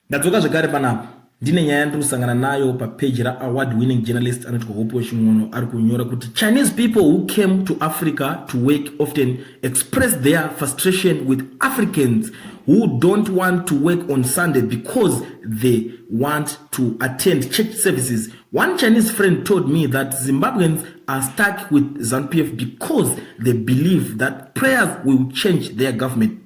Ndadzoka zvekare panapa ndine nyaya yandiri kusangana nayo papeji raaward winning journalist anoti kuhope wechimwono ari kunyora kuti chinese people who came to africa to work often express their frustration with africans who don't want to work on sunday because they want to attend church services one chinese friend told me that zimbabweans are stuck with zanupf because they believe that prayers will change their government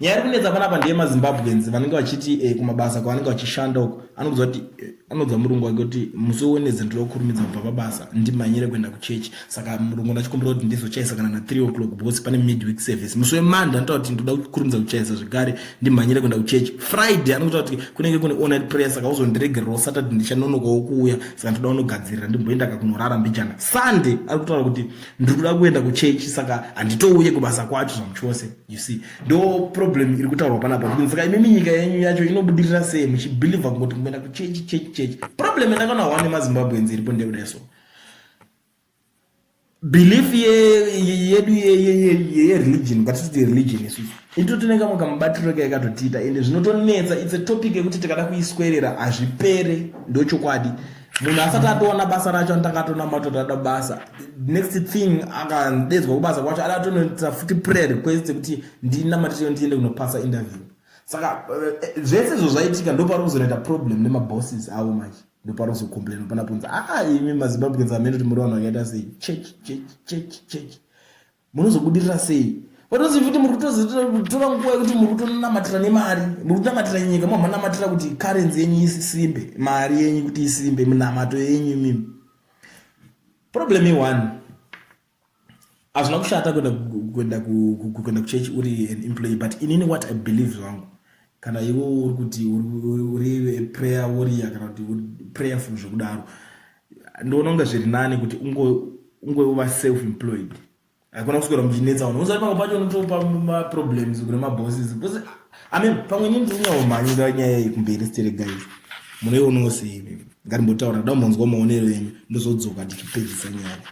nyaya iri kunetsa panapa ndeye mazimbabweans vanenge vachiti eh, kumabasa kwavanenge vachishanda uko anoudzwa kuti eh, anoudzwa murungu wake kuti musi wewenedze ndiri kukurumidza kubva pabasa ndimhanyire kuenda kuchechi saka murungu ndachikumbira kuti ndizochaisa kana na three o'clock because pane midweek service musi wemanda anotaura kuti ndoda kukurumidza kuchaisa zvekare ndimhanyire kuenda kuchechi friday anokutaa kuti kunenge kune online prayer saka uzondiregererawo saturday ndichanonokawo kuuya saka ndoda unogadzirira ndimboenda kakunorara mbijana sunday ari kutaura kuti ndiri kuda kuenda kuchechi saka handitouye kubasa kwacho zvamuchose you see ndo problem iri kutaurwa panapa kuti saka imimi nyika yenyu yacho inobudirira sei muchibhilivha kungoti kuenda kuchechi chechi chechi problem yandakaona hwa nemazimbabweans iripo ndekuda so belief yedu yereligion ngatititi religion isusu ito tine kamwe kamubatiro ke yakatotiita ende zvinotonetsa its a topic yekuti tikada kuiswerera hazvipere ndochokwadi munhu asati atoona basa racho anotanga atonamata kuti ada basa next thing akadedzwa kubasa kwacho ada atonoita futi prayer request yekuti ndinamatirio ndiende kunopasa interview saka eh, zvese izvo zvaitika ndopari kuzonoita problem nemabosses avo manje ndopari kuzocomplaina panaponza aa ah, imi mazimbabweans amene kuti muri vanhu vakaita sei church church church church munozobudirira sei vatozi futi muri kutozotora nguva yekuti muri kutonamatira nemari muri kunamatira nyika mo manamatira kuti karenzi yenyu isimbe mari yenyu kuti isimbe minamato yenyu imimi problem ione hazvina kushata kuenda kuenda kuenda kuchechi uri an employee but inini what i believe zvangu kana iwo uri kuti uri prayer warrior kana kuti prayerful zvekudaro ndoona kunge zviri nani kuti ungwe uva self employed haikona kuswera muchinetsa vanhu usa pamwe pacho unotopa maproblems kune mabosses bcause i mean pamwe ini ndinyaomhanyira nyaya iyi kumberi stere guys munoionawo sei ngarimbotaura kuda kumbonzwa maonero enyu ndozodzoka ndichipedzisa nyaya